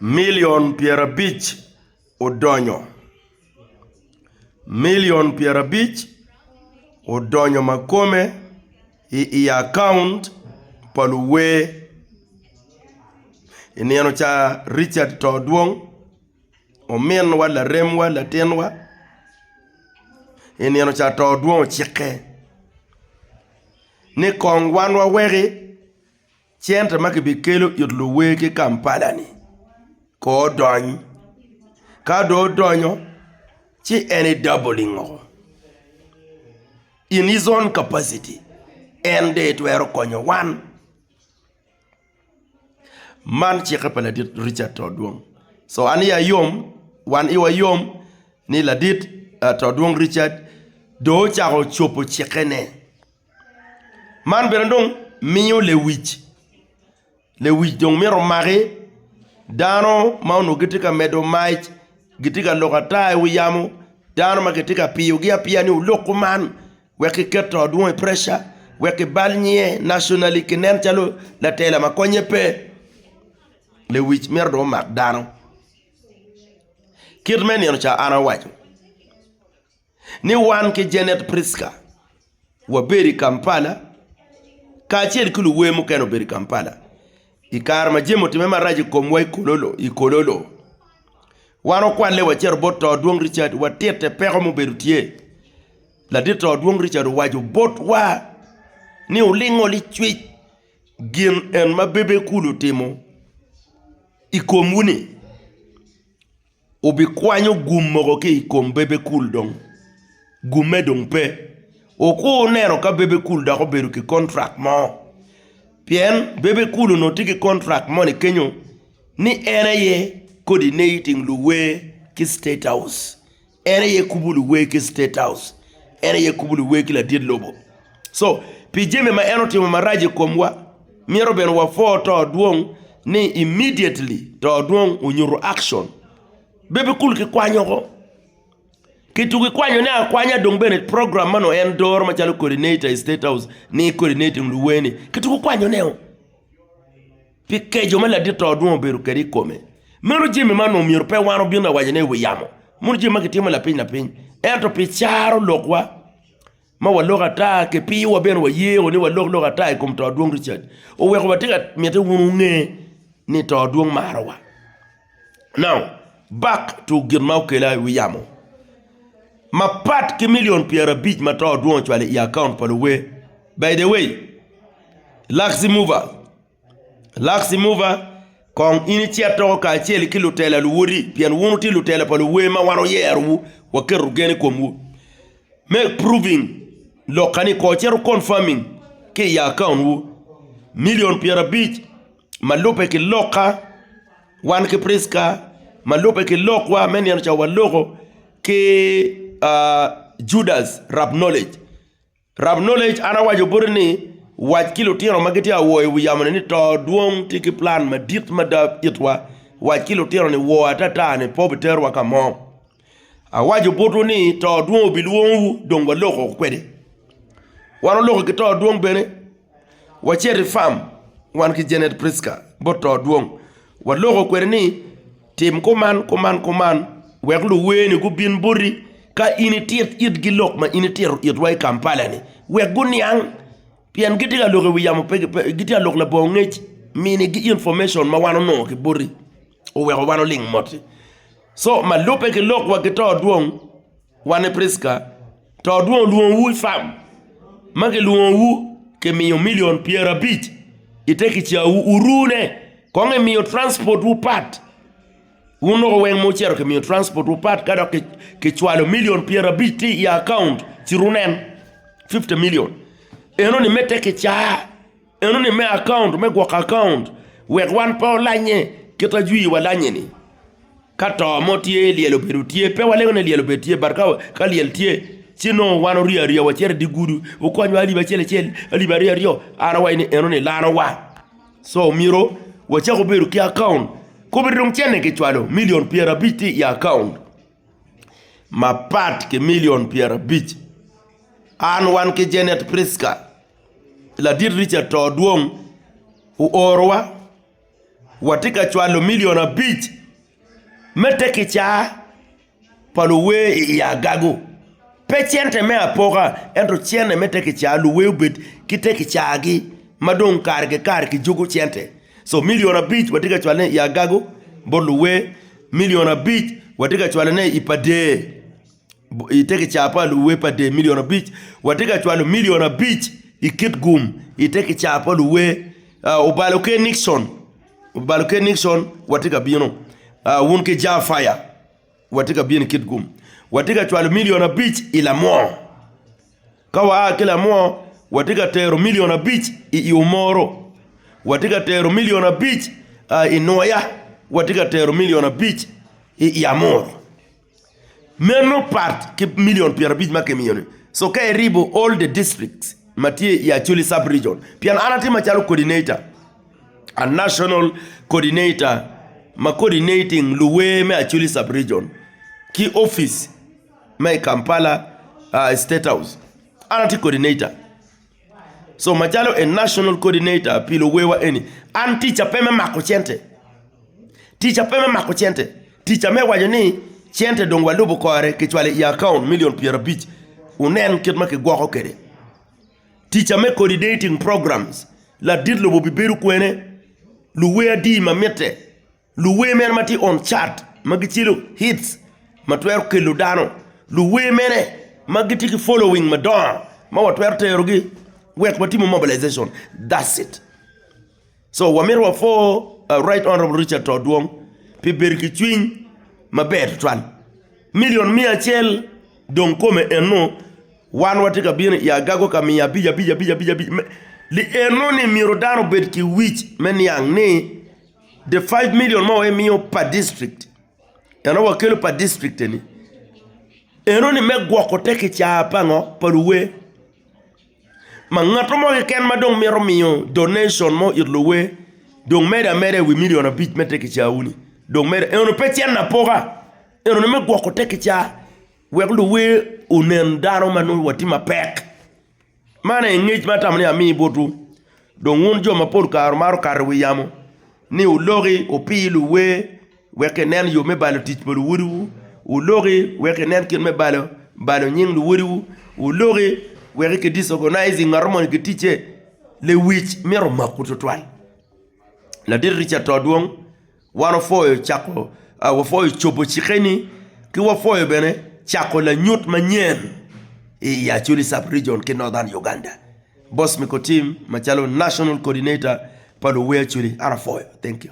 Milion pyerabic odonyo, milion pyerabic odonyo makome i i akaunt pa luwer i nino ca Richard Todwong, ominwa, laremwa, latinwa i nino ca Todwong ocikke ni kong wan waweki. Cente ma kibikelo it luwer ki Kampala-ni kong odony. Ka dong odonyo ci en i doubling o. In his own capacity en dong itwero konyo wan. Man cikke pa ladit Richard To Odwong. So an iya yom, wan iwa yom ni ladit To Odwong Richard dong ocako cobo cikkene. Man bene dong miyo lewic lewic dong mito maki dano ma onongo gitye ka medo mac gitye ka loko ata i wi yamo dano ma kitye ka piyogi apiya ni wulok kuman wek kiket to dwong i preca wek kibal nyiye nationally kinen calo latela ma konye pe lewic mito dong omak dano kit me nino ca an awaco. ni wan ki Janet Pritzker wabedo i Kampala kacel ki luwer mukene obedo i Kampala i kare ma jami otimme marac i komwa i Kololo. Wan okwalle wacito bot to dwong Richard watitte peko ma obedo tye. Ladit to dwong Richard owaco botwa ni wulingo licwic gin en ma Bebe Cool otimo i komwu-ni. Obikwanyo gum mogo ki i kom bebe kul dong. Gumme dong pe. Wukur wuneno ka bebe kul dok obedo ki kontrak mo. Pien bebe kul onongo tye ki kontrak moni kenyo ni en aye coordinating luwer ki State House. En aye kubo luwer ki State House. En aye kubo luwer ki ladit lobo. Pi jami ma en otimo marac i komwa, myero bene wapwo to dwong ni immediately to dwong onyuto action. Bebe kulu ki kwanyo ko. Kitugo ikwanyone akwanya dong bene program meno en doro macalo coordinator i state house ni coordinating luweni. Kitugo kwanyoneo. Pi keco ma ladit to dwong obedo kwede i kome. Meno jami ma onongo myero pe wan wabin awacone i wi yamo. Mono jami ma kitimo lapiny lapiny. Ento pi caro lokwa. ma waloko ata ki piwa bene waye o ni walok lok ata i kom to adwong Richard oweko watye ka mite wun wunge ni to adwong marowa. Now, back to gin ma okela i wi yamo. Mapat ki million pyera abic ma to adwong ocwalo i account pa luwe. By the way, Luxy Mover, Laksi muva, kong in icit doko kacel ki lutela luwoti, pien wun wutye lutela pa luwer ma wan wuyerowu, waketo gen i komwu. Me proving lokka-ni kor cito confirming ki i akaontwu. Milion pyerabic ma lubbe ki lokka, wan ki Prisca ma lubbe ki lokwa me nino ca waloko ki Judas rap knowledge. Rab Knowledge, An awaco boti ni, wac ki lutino ma gitye ka wo i wi yamo-ni ni to dwong tye ki plan madit mada itwa. Wac ki lutino ni woo atata-ni pe obiterwa ka mo. Awaco botwu ni to dwong obilwongowu dong waloko kwede. Wan oloko ki to dwong bene. wacit i fam wan ki Janet Prisca bot to dwong, waloko kwede ni tim kuman kuman kuman wek luweeni gubin boti ka in itit itgi lok ma in itito itwa i Kampala-ni wek guniang pien gitye ka lok i wi yamo pe gitye ka lok labongo ngec minigi information ma wan onongo kiboti oweko wan oling mot-ti, so ma lubbe ki lok wa ki to dwong Wan i Pricka to odwong olwongowu i fam, ma kilwongowu kimiyo milion pyerabic i te kicawu, wurune kong imiyo transport wu pat. Wun dok oweng ma wucito kimiyo transport wu pat ka dok kicwalo milion pyerabic tye i account ci wunen fifty million enoni me te kica. Enoni me akaunt me gwoko akaunt wek wan pe olanye kit ma jwi wa lanye ni. Ka to mo tye lyel obedo tye pe walengo ni lyel obedo tye but ka lyel tye ci nongo wan orye arye wa cito idi gudu wukony wa alip acel acel alip aryo aryo an awaco ni enoni lano wa. Co myero wacak wabedo ki akaunt kobedi dong cente kicwalo milion pyerabic tye i akaunt mapat ki milion pyerabic an wan ki Janet Prisca. Ladit Richard to dwong oorowa watye ka cwalo milion abic me te kicaa pa luwer i agago. Pe cente me apoka ento cente me te kicaa luwer obed ki te kicagi ma dong kare ki kare kijuko cente. So milion abic watye ka cwalone i agago bot luwer, milion abic watye ka cwalone i pa dee. ite kica pa luwe pa dye milion abic, watye ka cwalo milion abic i kitgum ite kica pa luwe. Obalo ki Nikson, obalo ki Nikson watye ka bino wun ki Jah Fire watye ka bino i kitgum. Watye ka cwalo milion abic i Lamwor, ka waa ki Lamwor watye ka tero milion abic i Iwomoro, watye ka tero milion abic i Nwoya, watye ka tero milion abic i Iamuru. Meno pat ki million pyera abic ma kimiyo ni so ka iribo all the districts ma tye i acholi sub region pien an atye macalo coordinator a national coordinator ma coordinating luwer me acholi sub region ki office ma i Kampala state house an atye coordinator So macalo a national coordinator pi luwewa eni, an ticca pe me mako cente, ticca pe me mako cente, ticca me waco ni cente dong walubo kore kicwalo i akaun milion pyerabic wunen kit ma kigwoko kwede. Ticca me coordinating programs, ladit lobo bibedo kwene, luwe adi ma mitte. Luwer mene ma tye on chart ma gicelo hits ma twero kelo dano? Luwer mene ma gitye ki following madongo ma watwero terogi wek watimo mobilization? That's it. So wamito wa for Right Honourable Richard To Odwong pi bedo ki cwiny maber tutwal. Million miya acel dong kome eno wan watye ka bino i agago ka miyo abic abic abic abic abic me, lieno ni myero dano obed ki wic me niang ni The five million ma wa imiyo per district, eno wakelo per district eni, eno ni me gwoko te kicaa pa ngo, pa luwe. Ma ngato mo keken ma dong mito miyo donation mo it luwe dong medo ameda i wi million abic me te kicaa wuni. Dong medo, eno pe cen apoka, eno ni me gwoko te kicaa wek luwe onen dano ma nongo watye mapek. Man aye ngec ma atamo ni amiyi botwu, dong wun jo ma pol kare wumato kato i wi yamo ni wuloki wupir luwer wek kinen yo me balo tic pa luwotwu, wuloki wek kinen kit me balo nying luwotwu, wuloki wek ki disorganizing ngat moni ki ticce, lewic mito maku tutwal, ladit Richard to dwong. Wan wapwoyo cako, wapwoyo cobo cikkeni ki wapwoyo bene cako lanyut manyen i Acholi Sub Region ki Northern Uganda. Boss Mikotim macalo National Coordinator pa luwe Acholi an apwoyo. Thank you.